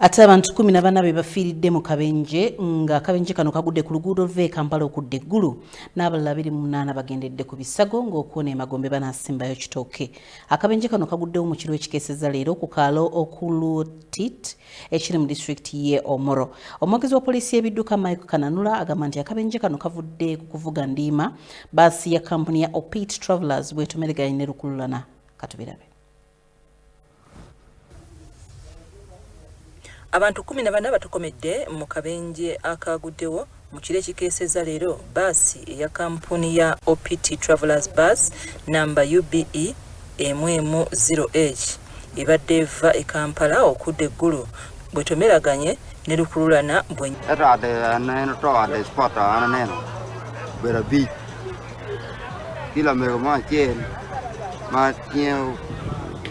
Ate abantu kumi na bana be bafiiridde mu kabenje nga akabenje kano kagudde ku luguudo luva e Kampala okudda e Gulu n'abalala abiri mu munaana bagendedde ku bisago ng'okuwona emagombe banaasimbayo kitooke. Akabenje kano kaguddewo mu kiro ekikeeseza leero ku kaalo Okulutit ekiri mu disitulikiti ye Omoro. Omwogezi wa poliisi y'ebidduka Mike Kananula agamba nti akabenje kano kavudde ku kuvuga ndiima baasi ya kampuni ya Opit Travellers bwetomereganye ne lukululana. Katubirabe. Abantu kkumi na bana batokomedde mu kabenje akaaguddewo mu kiro ekikeesezza leero bbaasi eya kampuni ya OPT Travelers Bus namba UBE emu emu 0H ebadde eva e Kampala okudda e Gulu bwetomeraganye ne lukululana bwe etwade neno twade spota ana neno bera bi kila mego ma chen ma tie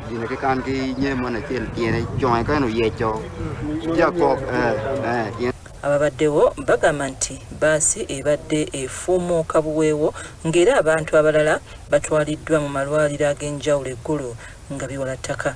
dine ke kan ki nye mo na chen tiene chon ka no yecho ya ko eh eh ababaddewo bagamba nti baasi ebadde efuumuuka buweewo ng'era abantu abalala batwaliddwa mu malwaliro ag'enjawulo eggulu nga biwala ttaka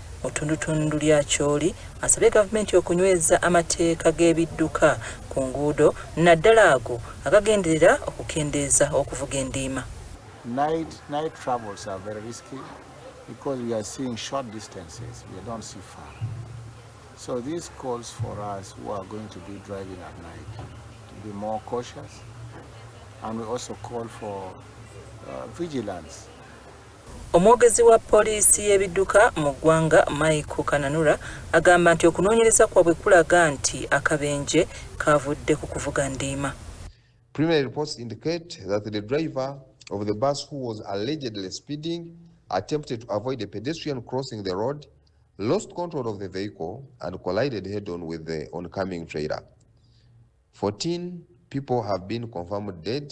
Mu ttundutundu lya Acholi asabye gavumenti okunyweza amateeka g'ebidduka ku nguudo naddala ago agagenderera okukendeeza okuvuga endiima. Night, night travels are very risky because we are seeing short distances, we don't see far. So this calls for us who are going to be driving at night to be more cautious and we also call for uh, vigilance Omwogezi wa poliisi y'ebidduka mu ggwanga Michael Kananura agamba nti okunoonyereza kwabwe kulaga nti akabenje kaavudde ku kuvuga ndiima. Preliminary reports indicate that the driver of the bus who was allegedly speeding attempted to avoid a pedestrian crossing the road, lost control of the vehicle and collided head-on with the oncoming trailer. 14 people have been confirmed dead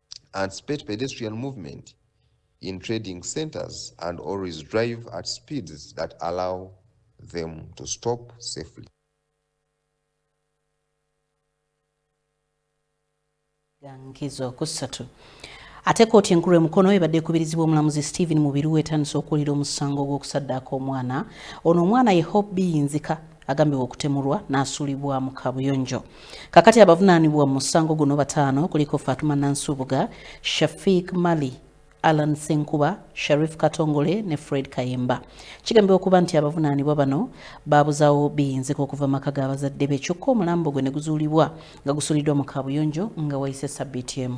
anticipate pedestrian movement in trading centers and always drive at speeds that allow them to stop safely. Gankizo kusatu. Ate kooti enkulu emukono ebadde ekubirizibwa omulamuzi Stephen Mubiru etandise okuwulira omusango gw'okusaddaaka omwana ono omwana ye Hope Biyinzika agambibwa okutemulwa n'asuulibwa mu kabuyonjo kakati abavunaanibwa mu musango guno bataano kuliko fatuma nansubuga shafiik mali Alan Senkuba, Sharif Katongole ne Fred Kayemba. Kigambibwa okuba nti abavunaanibwa bano baabuzawo biyinzika okuva maka ga bazadde be kyokka omulambo gwe ne guzuulibwa nga gusuliddwa mu kaabuyonjo nga wayise sabbiiti emu.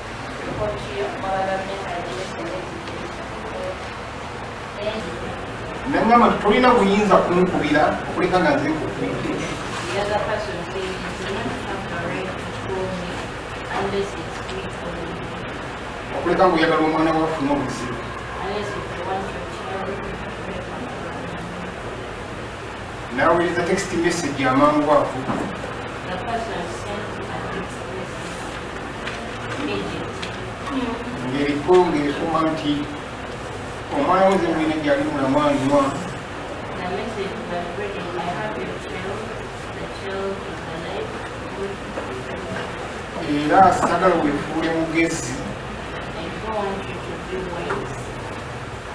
nangamba nti tolina buyinza kunkubira okuleka nga nze kukuite okuleka nga oyagala omwana wafuna obuzibu Nawuliriza text message amangu ago. Ng'eriko ng'ekuma nti omwana wo zemulina gyali mulamu anywa. Era sagala wefuule mugezi.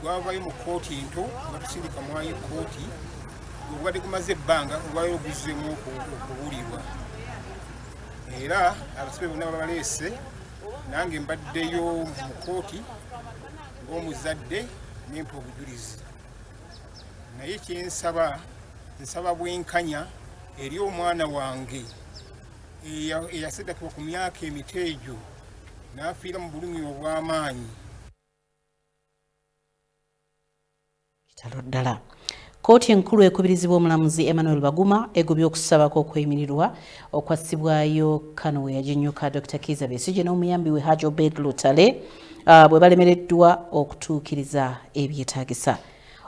gwavayo mu kkooti ento batusindika mwayo kkooti obubadde gumaze ebbanga olwayo oguzzemu okubuulirwa era abasibe bonna babaleese nange mbaddeyo mu kkooti ng'omuzadde nempa obujulizi naye kyensaba nsaba bwenkanya eri omwana wange eyasedakibwa ku myaka emito egyo n'afiira mu bulumi obw'amaanyi kitalo ddala kkooti enkulu ekubirizibwa omulamuzi emmanuel baguma egobye okusaba kw'okweyimirirwa okwassibwayo kano we yaginyuka dr kiiza besigye n'omuyambi we haj obed lutale ah, bwe balemereddwa okutuukiriza ebyetaagisa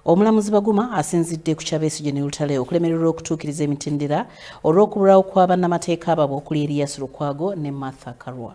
omulamuzi baguma asinzidde ku kyabesigye ne lutale okulemererwa okutuukiriza emitendera olw'okubulawo kwa bannamateeka babo okuli eriyas lukwago ne martha karwa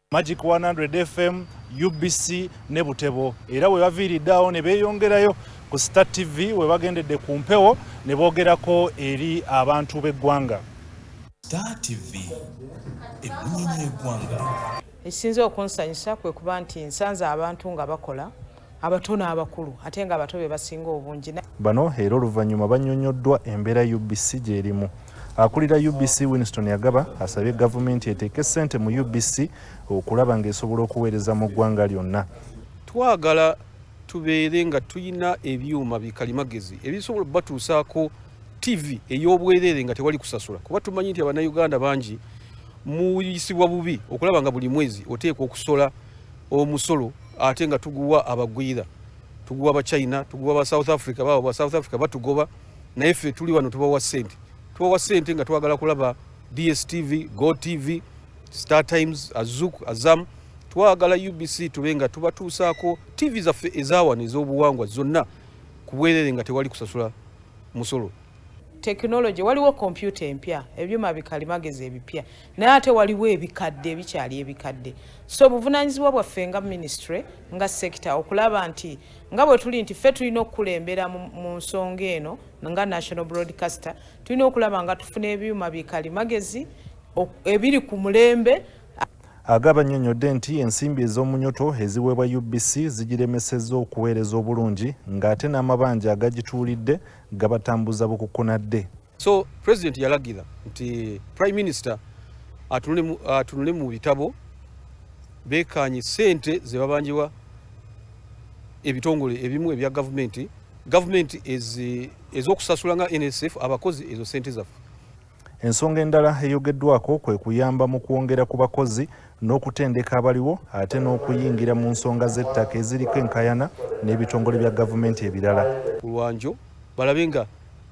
Magic 100 FM, UBC ne Butebo era we baviiridde awo ne beeyongerayo ku Star TV we bagendedde ku mpewo ne boogerako eri abantu b'eggwanga. Star TV eggwanga. Ekisinze okunsanyusa kwe kuba nti nsanze abantu nga bakola abato n'abakulu ate nga abato be basinga obungi. Bano era oluvannyuma bannyonnyoddwa embeera UBC gy'erimu. Akulira UBC Winston Yagaba asabye gavumenti eteeke ssente mu UBC okulaba ng'esobola okuweereza mu ggwanga lyonna. Twagala tubeere nga tulina ebyuma bikalimagezi ebisobola batuusaako ttivi ey'obwereere nga tewali kusasula kuba tumanyi nti abannayuganda bangi muyisibwa bubi okulaba nga buli mwezi oteekwa okusola omusolo ate nga tuguwa abagwira tuguwa ba china tuguwa ba south africa baba ba south africa batugoba naye ffe tuli wano tubawa sente tubawa sente nga twagala kulaba dstv go tv star times azuk azam twagala ubc tube nga tubatuusaako tv zaffe ezawano ez'obuwangwa zonna ku bwerere nga tewali kusasula musolo tekinologi waliwo kompyuta empya ebyuma bikalimagezi ebipya naye ate waliwo ebikadde ebikyali ebikadde so obuvunanyizibwa bwaffe nga ministry nga sekita okulaba nti nga bwe tuli nti ffe tulina okukulembera mu nsonga eno nga national broadcaster tulina okulaba nga tufuna ebyuma bikali magezi ebiri ku mulembe agaba nnyonnyodde nti ensimbi ez'omunyoto eziweebwa ubc zigiremesezza okuweereza obulungi ng'ate n'amabanja agagituulidde gabatambuza bukukunadde So president yalagira nti prime minister atunule mu bitabo bekanye sente zebabanjiwa ebitongole ebimu ebya gavumenti gavumenti ezokusasula nga nsf abakozi ezo sente zaffe ensonga endala eyogeddwako kwe kuyamba mu kwongera ku bakozi n'okutendeka abaliwo ate n'okuyingira mu nsonga z'ettaka eziriko enkayana n'ebitongole bya gavumenti ebirala kulwanjo balabe nga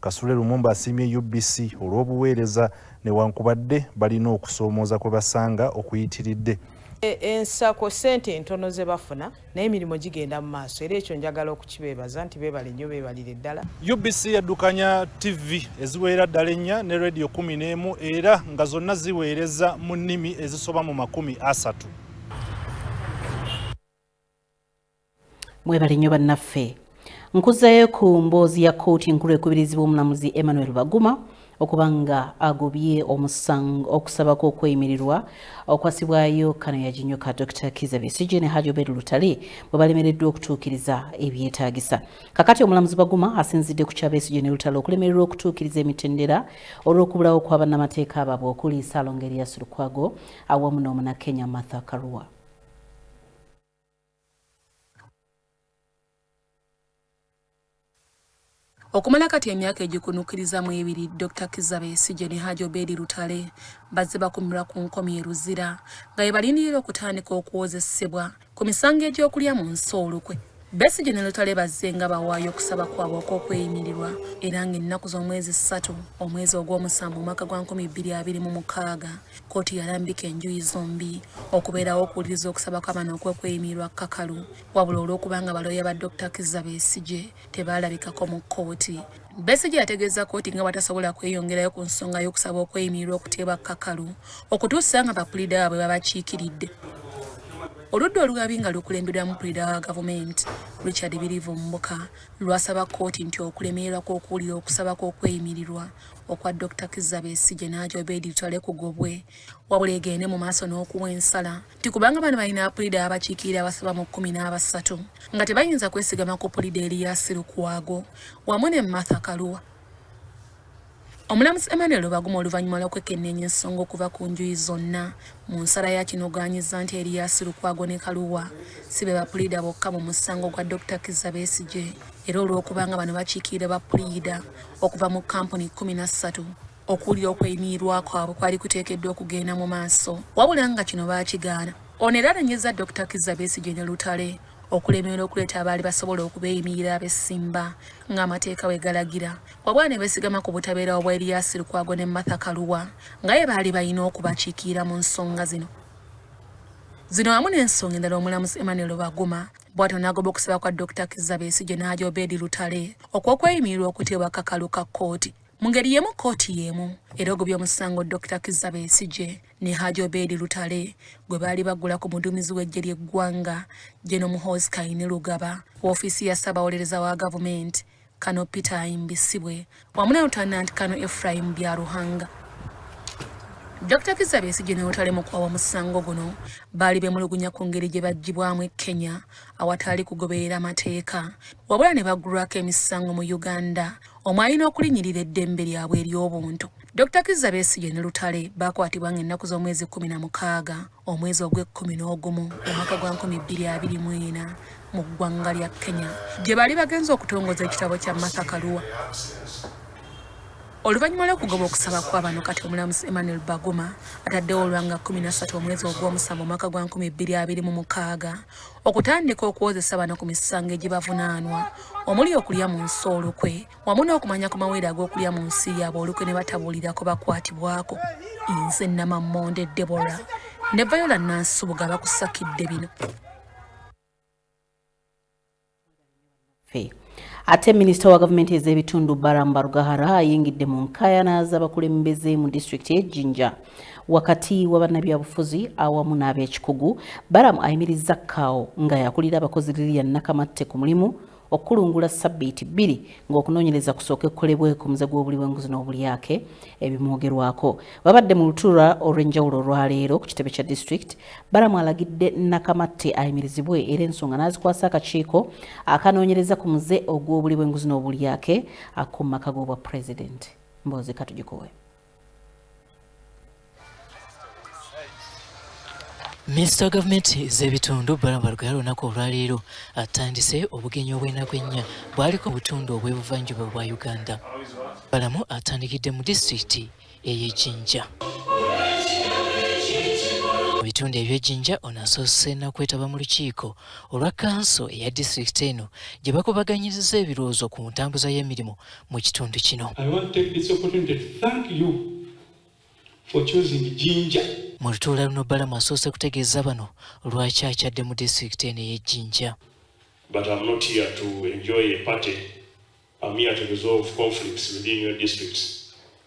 Kasule Lumumba asiimye UBC olw'obuweereza newankubadde balina okusoomooza kwe basanga okuyitiridde. E, ensako ssente ntono ze bafuna naye emirimu gigenda mu maaso era ekyo njagala okukibeebaza nti beebale nnyo beebalire ddala. UBC yaddukanya TV eziweera ddala ennya ne rediyo kumi n'emu era nga zonna ziweereza mu nnimi ezisoba mu makumi asatu. mwebale nnyo bannaffe nkuzayo ku mboozi ya kkooti enkulu ekubirizibwa omulamuzi emmanuel baguma okuba nga agobye omusango okusaba kw'okweyimirirwa okwasibwayo kano yaginyoka dr kiza bisigi ne haji obed lutale bwe balemereddwa okutuukiriza ebyetaagisa kakati omulamuzi baguma asinzidde ku kyabesigi ne lutale okulemererwa okutuukiriza emitendera olw'okubulawo kwa bannamateeka baabwe okuli salonga erias lukwago awamu n'omunakenya martha karua Okumala kati emyaka egikunukkiriza mu ebiri Dr. Kizza Besigye ne Haji Obedi Lutale bazze bakumirwa ku nkomi e Luzira nga bye balindirira okutandika okuwozesebwa ku misango egy'okulya mu nsi olukwe. Besigye ne Lutale bazze nga bawaayo okusaba kwabwe okw'okweyimirirwa era ng'ennaku z'omwezi ssatu omwezi ogw'omusanvu omwaka gwa nkumi bbiri abiri mu mukaaga Kkooti yalambika enjuyi zombi okubeerawo okuwuliriza okusaba kw'abaana okwekweyimirirwa kkakalu wabula olw'okubanga balooya ba Dokita Kizza Besigye tebaalabikako mu kkooti Besigye yategeeza kkooti nga batasobola kweyongerayo ku nsonga y'okusaba okweyimirirwa okuteebwa kkakalu okutuusa nga bapuliida baabwe babakiikiridde oludda olugabi nga lukulembedwamu puliida wa gavumenti Richard Birivu Mbuka lwasaba kkooti nti okulemererwa kw'okuwulira okusaba kw'okweyimirirwa okwa Dokita Kizza Besigye n'agya Obedi Lutale kugobwe wabula egende mu maaso n'okuwa ensala nti kubanga bano balina apulida abakiikirira abasaba mu kkumi n'abasatu nga tebayinza kwesigama ku pulida Eriyasi Lukwago wamu ne Martha Kaluwa omulamuzi Emmanuel Lubaguma oluvannyuma lw'okwekenneenya ensonga okuva ku njuyi zonna mu nsala ya kinogaanyiza nti Eriyasi Lukwago ne Kaluwa si be bapulida bokka mu musango gwa Dokita Kizza Besigye era olw'okubanga bano bakiikirira ba puliida okuva mu kampuni kumi na ssatu okuwulira okweyimirirwa kwabwe kwali kuteekeddwa okugenda mu maaso wabula nga kino baakigaana ono era anenyeza dr kizza besigye ne lutale okulemerera okuleeta abaali basobola okubeeyimirira abesimba ng'amateeka bwe galagira wabwa ne beesigama ku butabeera obwa eriyasi lukwago ne martha kaluwa nga ye baali balina okubakiikirira mu nsonga zino zino wamu n'ensonga endala omulamuzi emmanuel baguma bwatyo n'agoba okusaba kwa Dokita Kizza Besigye n'aja Obedi Lutale okw'okweyimirirwa okuteebwa akakalu ka kkooti mu ngeri y'emu kkooti y'emu era ogobye omusango Dokita Kizza Besigye ne Haji Obedi Lutale gwe baali bagula ku muduumizi w'eggye ly'eggwanga General Muhoozi Kainerugaba woofiisi ya ssaabawolereza wa gavumenti Kano Peter Ayimbisibwe wamu ne Lutanda Nantikano Ephraim Byaruhanga. Dr Kizza Besigye ne Lutale mu kwawa musango guno baali bemulugunya ku ngeri gye baggyibwamu e Kenya awataali kugoberera mateeka wabula ne baggulwako emisango mu Uganda omwali n'okulinyirira eddembe lyabwe ery'obuntu. Dr Kizza Besigye ne Lutale baakwatibwa ng'ennaku z'omwezi kkumi na mukaaga omwezi ogw'ekkumi n'ogumu omwaka gwa nkumi bbiri abiri mu ena mu ggwanga lya kenya gye baali bagenza okutongoza ekitabo kya martha kaluwa oluvannyuma lw'okugoba okusaba kwa bano kati omulamuzi emmanuel baguma ataddewo olwanga kumi nassatu omwezi ogw'omusanvu omwaka gwa nkumi bbiri abiri mu mukaaga okutandika okuwozesa bano ku misango egibavunaanwa omuli okulya mu nsi olukwe wamu n'okumanya ku mawere ag'okulya mu nsi yaabwe olukwe ne batabuulirako bakwatibwako nze namammonde debora ne vayola nansubuga bakusakidde bino ate minisita wa gavumenti ez'ebitundu baram barugahara ayingidde mu nkayana z'abakulembeze mu disitulikiti y'e jinja wakati wa bannabyabufuzi awamu n'abekikugu baramu ayimirizza kaawo nga yakulira abakozi lilian nakamatte ku mulimu okukulungula ssabbiiti bbiri ng'okunoonyereza kusooke kukolebwe ku muze gw'obuli bw'enguzi n'obulyake ebimwogerwako. Babadde mu lutuula olw'enjawulo olwaleero ku kitebe kya disitulikiti. Balamu alagidde Nakamatte ayimirizibwe era ensonga n'azikwasa akakiiko akanoonyereza ku muze ogw'obuli bw'enguzi n'obulyake ak'omu maka g'obwa pulezidenti. Mboozi katugikowe. minisita wa gavumenti z'ebitundu balamba lugaya lunaku olwaleero atandise obugenyi obw'enaku ennya bwaliko obutundu obw'ebuvanjuba bwa uganda balamu atandikidde mu disitulikiti ey'ejinja mu bitundu eby'ejinja ono asoose nakwetaba mu lukiiko olwa kanso eya disitulikiti eno gye bakubaganyiriza ebirowoozo ku ntambuza y'emirimu mu kitundu kino. Mu lutuula luno Balamu asoose kutegeeza bano lwaki akyadde mu disitulikiti eno ey'e Jinja. But I'm not here to enjoy a party. I'm here to resolve conflicts within your districts.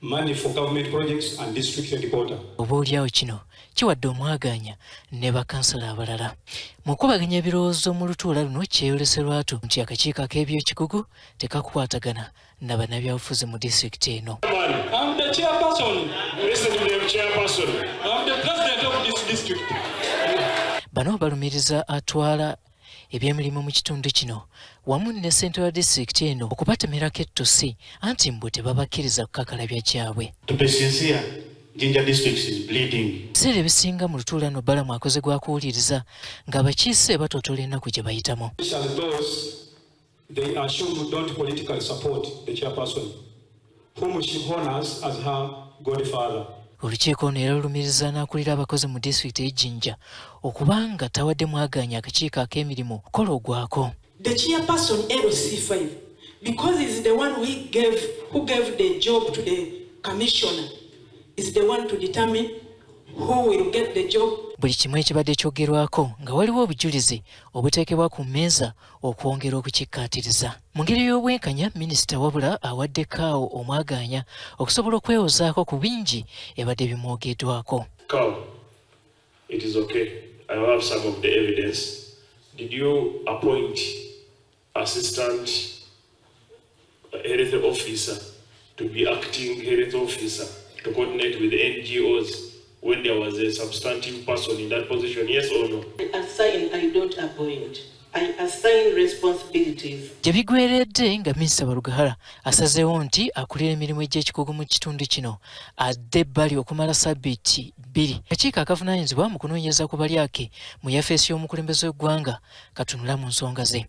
Money for government projects and district headquarter. Oboolyawo kino kiwadde omwagaanya ne bakansala abalala mu kubaganya ebirowoozo mu lutuula luno kyeyolese lwatu nti akakiiko ak'ebyekikugu tekakwatagana na bannabyabufuzi mu disitulikiti eno bano balumiriza atwala ebyemirimu mu kitundu kino wamu ne ssente wa disitulikiti eno okubatemerako ettusi anti mbu tebabakkiriza kukakalabya kyabwe ebiseera ebisinga mu lutuula no balamu akoze gwa kuwuliriza ng'abakiise batootola ennaku gye bayitamu They are shown don't politically support the chairperson whom she honors as her godfather. Olukiiko ono era lulumiriza n'akulira abakozi mu disitulikiti y'e Jinja okubanga tawadde mwagaanya akakiiko ak'emirimu kola ogwako. The chairperson LC5 because he is the one who gave, who gave the job to the commissioner is the one to determine who will get the job. Buli kimu ekibadde kyogerwako nga waliwo obujulizi obuteekebwa ku mmeeza okwongera okukikkaatiriza mu ngeri y'obwenkanya minisita wabula awadde kaawo omwagaanya okusobola okwewozaako ku bingi ebadde bimwogeddwako health officer to be acting health officer to coordinate with NGOs when there was a substantive person in that position, yes or no? I assign, I don't appoint. gye bigweredde nga minisita barugahara asazeewo nti akulira emirimu egy'ekikugu mu kitundu kino adde ebbali okumala sabiiti bbiri akakiiko akavunaanyizibwa mu kunoonyereza ku balyake mu yafeesi y'omukulembeze w'eggwanga katunula mu nsonga ze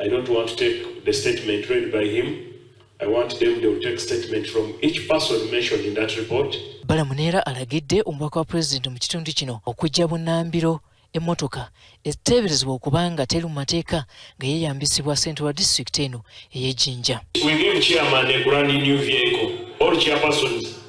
I don't want to take the statement read by him. I want them to take statement from each person mentioned in that report. Balamunera alagidde omubaka wa president mu kitundu kino okujja bunambiro emmotoka eteeberezebwa okuba nga teri mu mateeka nga yeeyambisibwa ssente wa disitulikiti eno ey'ejjinja. We give chairman a brand new vehicle. All chairpersons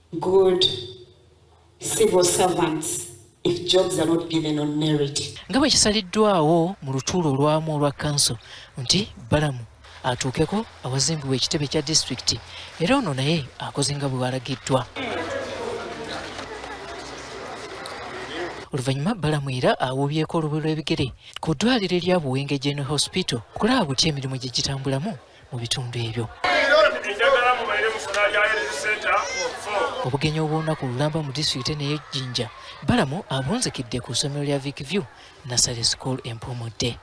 good civil servants if jobs are not given on merit. Nga bwe kisaliddwawo mu lutuula olwamu olwa kanso nti Balamu atuukeko awazimbibwa ekitebe kya disitulikiti era ono naye akoze nga bwe walagiddwa. oluvannyuma balamu era awuubyeko olubu lw'ebigere ku ddwaliro erya buwenge general hospital okulaba butya emirimu gye gitambulamu mu bitundu ebyo. Obugenyi obw'olunaku olulamba mu disitulikiti eno ey'e Jinja balamu abunzikidde ku ssomero lya Vic View Nursery School e Mpumudde.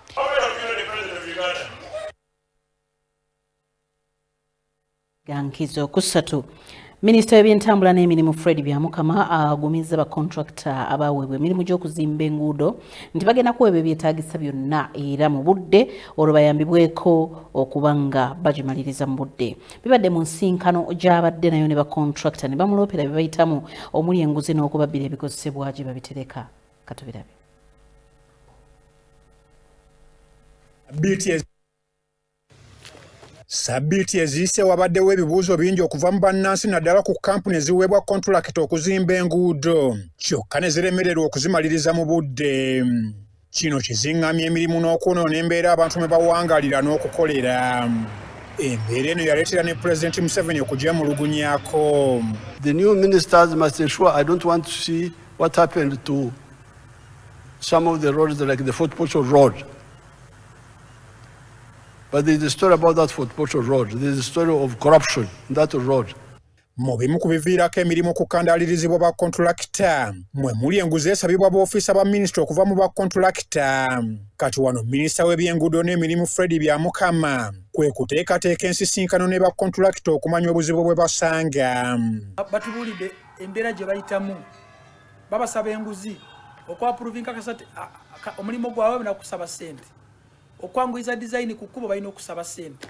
Gankizo kusatu. Minisita w'ebyentambula n'emirimu Fred Byamukama agumizza bakontulakita abaaweebwa emirimu gy'okuzimba enguudo nti bagenda kuweebwa ebyetaagisa byonna era mu budde olwo bayambibweko okuba nga bagimaliriza mu budde. Bibadde mu nsinkano gy'abadde nayo ne bakontulakita ne bamuloopera bye bayitamu omuli enguzi n'okubabbira ebikozesebwa gye babitereka. Katubirabe. Sabbiiti eziyise wabaddewo ebibuuzo bingi okuva mu bannansi naddala ku kkampuni eziweebwa kontulakiti okuzimba enguudo kyokka ne ziremererwa okuzimaliriza mu budde. Kino kizingamya emirimu n'okwonoona embeera abantu mwe bawangalira n'okukolera. Embeera eno yaleetera ne Pulezidenti Museveni okugyemulugunyako. The new ministers must ensure I don't want to see what happened to some of the roads like the Fort Portal Road. But there is a story about that Fort Portal road. There is a story of corruption in that road. Mu bimu ku biviirako emirimu okukandaalirizibwa ba kontulakita mwe muli enguzi esabibwa boofiisa ba minisita okuva mu ba kontulakita. Kati wano minisita w'ebyenguudo n'emirimu Fred Byamukama kwe kuteekateeka ensisinkano ne ba kontulakita okumanya obuzibu bwe basanga. Batubuulidde embeera gye bayitamu, babasaba enguzi okwapuruvinka kasati omulimu gwabwe nakusaba ssente. okwanguyiza design ku kkubo balina okusaba sente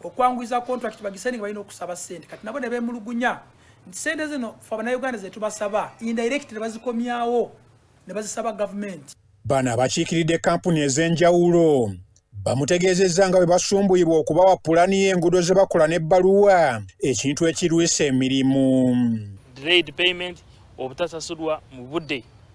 okwanguyiza contract bagisaininga balina okusaba sente kati nabo ne beemulugunya nti sente zino fe abanauganda ze tubasaba indirect ne bazikomyawo ne bazisaba gavumenti bano abakiikiridde kampuni ez'enjawulo bamutegeezezza nga bwe basumbuyibwa okubawa pulani y'enguudo ze bakola n'ebbaluwa ekintu ekirwisa emirimu obutasasulwa mu budde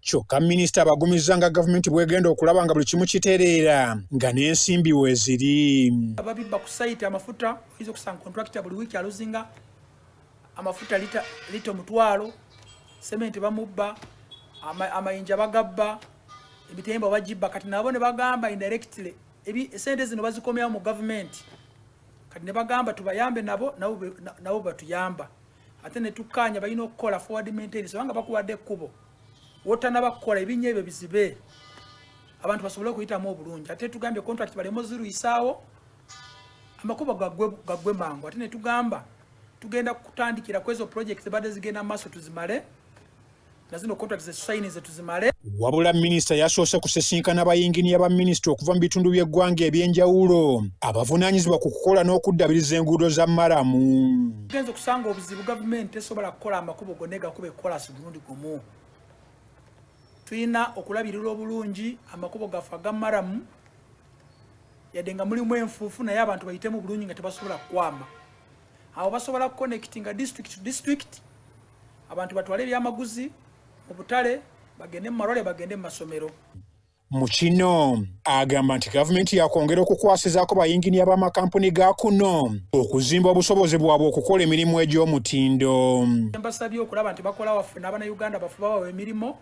Kyokka minisita abagumizza nga gavumenti bwegenda okulaba nga buli kimu kitereera nga n'ensimbi weziri. Ababibba ku sayiti amafuta oyinza okusanga kontulakita buli wiiki aluzinga amafuta lita omutwalo, sementi bamubba, amayinja bagabba, ebitemba bagibba. Kati nabo ne bagamba indirectly esente zino bazikomyawo mu gavumenti. Kati ne bagamba tubayambe nabo nabo batuyamba. ate ne tukkaanya balina okukola forward maintenance obanga bakuwadde ekkubo wotanaba kukola ebinnya ebyo bizibe abantu basobole okuyitamu obulungi ate tugambye contract baleme oziruyisaawo amakubo gaggwe mangu ate ne tugamba tugenda kutandikira kwezo project zibadde zigenda mu maaso tuzimale nazino contract ze sign ze tuzimale wabula minisita yasoose kusisinkana bayinginiya ba minisita okuva mu bitundu by'eggwanga eby'enjawulo abavunaanyizibwa ku kukola n'okuddabiriza enguudo za maramu tugenza okusanga obuzibu gavumenti tesobola kukola amakubo gonna egakuba ekolasi mulundi gumu tulina okulabirira obulungi amakubo gaffe aga maramu yadde nga mulimu enfuufu naye abantu bayitemu bulungi nga tebasobola kukwama awo basobola connectinga district to district abantu batwale ebyamaguzi mu butale bagende mu malwale bagende mu masomero mu kino agamba nti gavumenti yakwongera okukwasizaako bayinginiya b'amakampuni ga kuno okuzimba obusobozi bwabwe okukola emirimu egy'omutindo mbasabye okulaba nti bakola waffe n'abanauganda bafuba bawa emirimu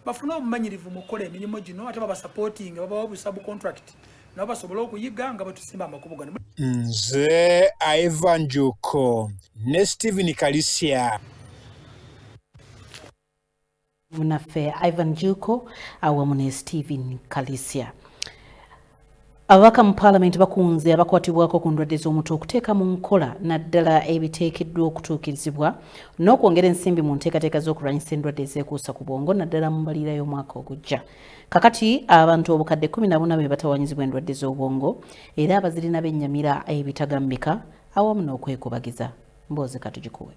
bafune obumanyirivu mu kukola emirimu gino ate babasapootinga babawa obusabu contract nabo basobole okuyiga nga bwetusimba amakubo gano nze ivan juko ne stephen kalisia munaffe ivan juko awamu ne stephen kalisia Ababaka mu paalamenti bakunze abakwatibwako ku ndwadde z'omutwe okuteeka mu nkola naddala ebiteekeddwa okutuukirizibwa n'okwongera ensimbi mu nteekateeka z'okulwanyisa endwadde ezeekuusa ku bwongo naddala mu mbalira y'omwaka ogujja kakati abantu obukadde 14 be batawanyizibwa endwadde z'obwongo era abazirina bennyamira ebitagambika awamu n'okwekubagiza mboozi katugikuwe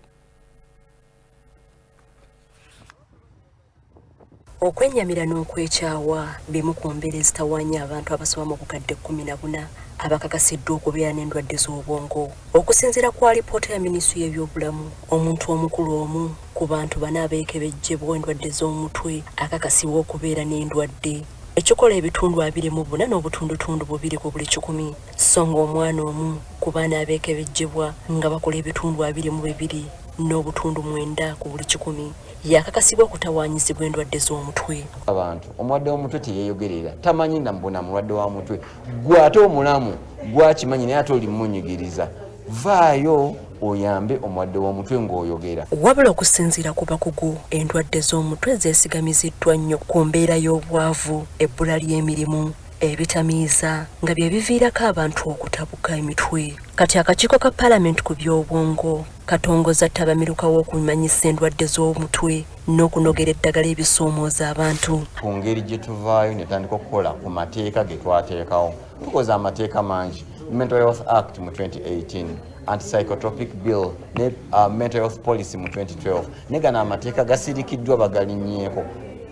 Okwennyamira n'okwekyawa bimu ku mbeera ezitawaanya abantu abasoba mu bukadde kkumi na buna abakakasiddwa okubeera n'endwadde z'obwongo. Okusinziira ku alipoota ya minisitule y'ebyobulamu, omuntu omukulu omu ku bantu bana abeekebejjebwa endwadde z'omutwe akakasibwa okubeera n'endwadde ekikola ebitundu abiri mu buna n'obutundutundu bubiri ku buli kikumi so ng'omwana omu ku baana abeekebejjebwa nga bakola ebitundu abiri mu bibiri n'obutundu mwenda ku buli kikumi yakakasibwa okutawaanyizibwa endwadde z'omutwe abantu omulwadde w'omutwe teyeeyogerera tamanyi namubona mulwadde wa mutwe gwe ate omulamu gwakimanyi naye ate olimunyigiriza vaayo oyambe omulwadde w'omutwe ng'oyogera wabula okusinziira ku bakugu endwadde z'omutwe zeesigamiziddwa nnyo ku mbeera y'obwavu ebbula ly'emirimu ebitamiiza nga bye biviirako abantu okutabuka emitwe kati akakiiko ka palamenti ku by'obwongo katongoza ttabamiruka w'okumanyisa endwadde z'omutwe n'okunogera eddagala ebisoomooza abantu ku ngeri gye tuvaayo ne tandika okukola ku mateeka ge twateekawo tukoze amateeka mangi mental health act mu 2018 antipsychotropic bill ne uh, mental health policy mu 2012 ne gano amateeka gasirikiddwa bagalinyeeko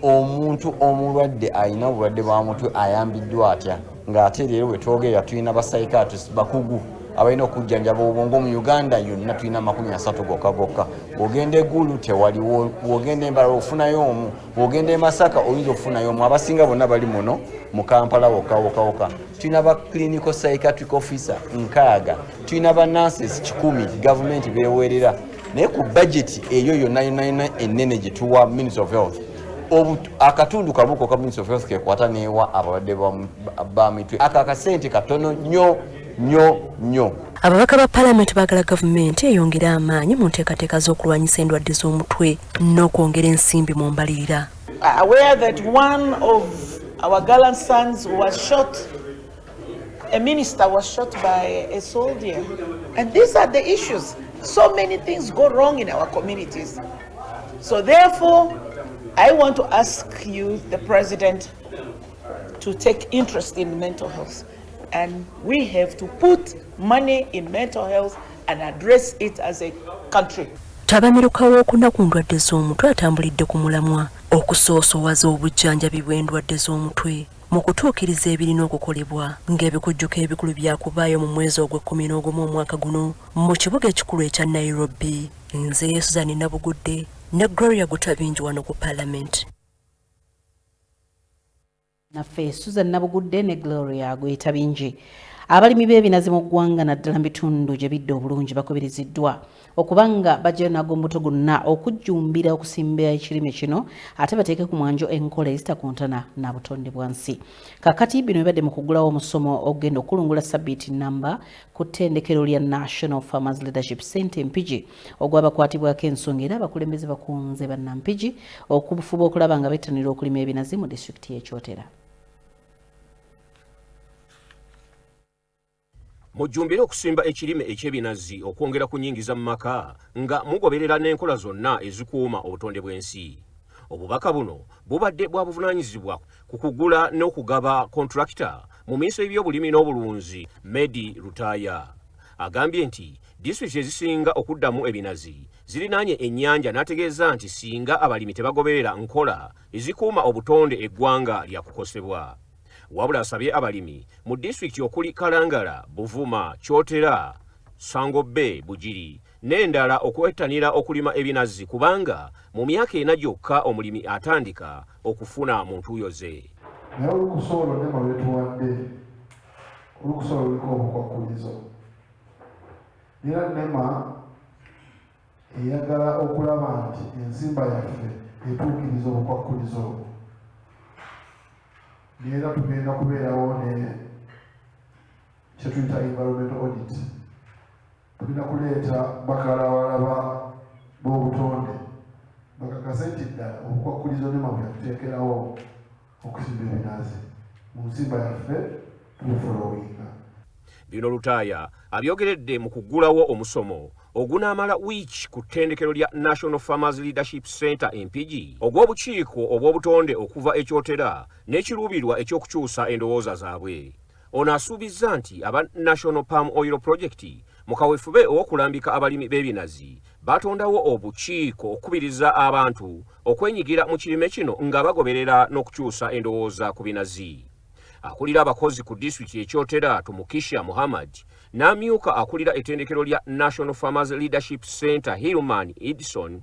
omuntu omulwadde alina obulwadde bwa mutwe ayambiddwa atya ng'ate leero bwe twogerera tulina basaikatis bakugu abalina okujjanjaba obwongo mu uganda yonna tulina amakumi asatu gokka gokka ogenda egulu tewaliwo wogenda embala ofunayo omu bwogenda e masaka oyinza okufunayo omu abasinga bonna bali muno mu kampala wokawokawoka tulina ba clinical psychiatric officer nkaaga tulina ba nances kikumi gavumenti beweerera naye ku bajeti eyo yonna yonayona enene gyetuwa ministry of health akatundu kabuko ka ministry of health kekwata newa abalwadde ba mitwe ako akasente katono nnyo nyo nyo. Ababaka ba palamenti baagala gavumenti eyongere amaanyi mu nteekateeka z'okulwanyisa endwadde z'omutwe n'okwongera ensimbi mu mbalirira. Aware that one of our gallant sons was shot, a minister was shot by a soldier. And these are the issues. So many things go wrong in our communities. So therefore, I want to ask you, the president, to take interest in mental health. And we have to put money in mental health and address it as a country. Ttabamiruka w'okuna ku ndwadde z'omutwe atambulidde ku mulamwa okusoosowaza obujjanjabi bw'endwadde z'omutwe mu kutuukiriza ebirina okukolebwa ng'ebikujjuko ebikulu byakubaayo mu mwezi ogw'ekkumi n'ogumu omwaka guno mu kibuga ekikulu ekya nairobi nze yesuzani nabugudde ne gloria gutabingi wano ku palamenti naffe susan nabugudde ne gloria gweyita bingi abalimi b'ebinazi mu ggwanga naddala mu bitundu gye bidde obulungi bakubiriziddwa okuba nga bajjayo nago mbuto gonna okujjumbira okusimba ekirime kino ate bateeke ku mwanjo enkola ezitakontana na butonde bwansi kakati bino bibadde mu kugulawo omusomo ogenda okukulungula sabbiiti namba ku ttendekero lya national farmers leadership center mpigi ogw'abakwatibwako ensonga era abakulembeze bakunze bannampigi okubufuba okulaba nga bettanira okulima ebinazi mu disitulikiti y'e Kyotera. mujjumbire okusimba ekirime eky'ebinazi okwongera ku nyingiza mu maka nga mugoberera n'enkola zonna ezikuuma obutonde bw'ensi obubaka buno bubadde bwa buvunaanyizibwa ku kugula n'okugaba kontulakita mu miiso y'ebyobulimi n'obulunzi medi lutaaya Agambye nti disitulikiti ezisinga okuddamu ebinazi zirinaanye ennyanja n'ategeeza nti singa abalimi tebagoberera nkola ezikuuma obutonde eggwanga lyakukosebwa. Wabula asabye abalimi mu disitulikiti okuli Kalangala, Buvuma, Kyotera, Ssango Bay, Bugiri n'endala okwettanira okulima ebinazi kubanga mu myaka ena gyokka omulimi atandika okufuna mu ntuuyo ze. Naye olukusa olwo ne mwe lwetuwadde olukusa luliko obukwakkulizo era nema eyagala okulaba nti ensimba yaffe etuukiriza obukwakkulizo obwo neera tugenda kubeerawo ne kyetuyita environment audit tulina kuleeta bakalawalaba b'obutonde bakakase nti ddala obukwakkulizo nema bwe yatuteekerawo okusimba ebinaazi mu nsimba yaffe tubifolowinga. Bino Lutaaya abyogeredde mu kuggulawo omusomo ogunaamala wiiki ku ttendekero lya National Farmers Leadership Center e Mpigi ogw'obukiiko obw'obutonde okuva e Kyotera n'ekiruubirwa eky'okukyusa endowooza zaabwe. Ono asuubizza nti aba National Palm Oil Project mu kawefube ow'okulambika abalimi b'ebinazi baatondawo obukiiko okukubiriza abantu okwenyigira mu kirime kino nga bagoberera n'okukyusa endowooza ku binazi akulira abakozi ku disitulikiti ekyotera tumukisha muhammad n'amyuka akulira ettendekero lya national farmers leadership center hillman edison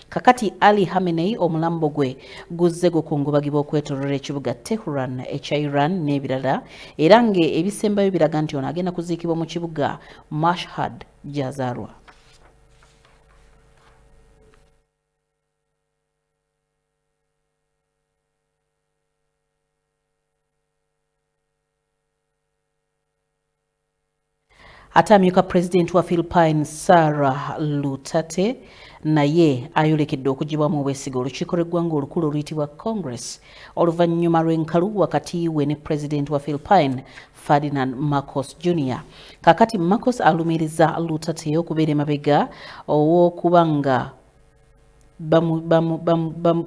Kakati Ali Hamenei omulambo gwe guzze gukungubagibwa okwetoloola ekibuga Tehran ekya Iran n'ebirala era ng'ebisembayo biraga nti ono agenda kuziikibwa mu kibuga Mashhad gy'azaalwa. ate amyuka pulezidenti wa philipine sarah lutate naye ayolekedde okugibwamu obwesige olukiiko lw'eggwanga olukulu oluyitibwa congress oluvannyuma lw'enkalu wakati we ne pulezidenti wa philipine ferdinand marcos junior kakati marcos alumiriza lutate okubeera emabega ow'okuba nga bamu, bamu, bamu, bamu,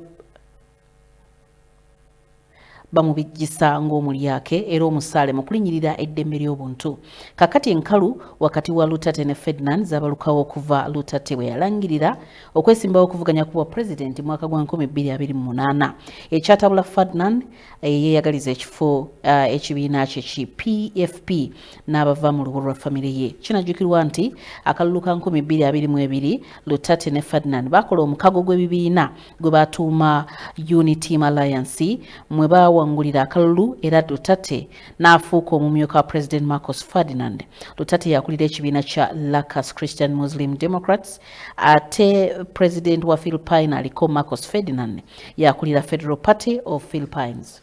bamubijjisa ng'omulyake era omusaale mu kulinyirira eddembe ly'obuntu kakati enkalu wakati wa lutate ne ferdinand zabalukawo okuva lutate bwe yalangirira okwesimbawo okuvuganya ku bwa pulezidenti mwaka gwa 2028 ekyatabula ferdinand eh, yeyagaliza ekifo eh, ekibiina kye ki pfp n'abava mu lubu lwa famire ye kinajjukirwa nti akalulu ka 2022 lutate ne ferdinand bakola omukago gw'ebibiina gwe baatuuma Uniteam Alliance mwe baawangulira akalulu era Lutate n'afuuka omumyuka wa Pulezidenti Marcos Ferdinand. Lutate yakulira ekibiina kya Lacus Christian Muslim Democrats ate Pulezidenti wa Philippine aliko Marcos Ferdinand yakulira Federal Party of Philippines.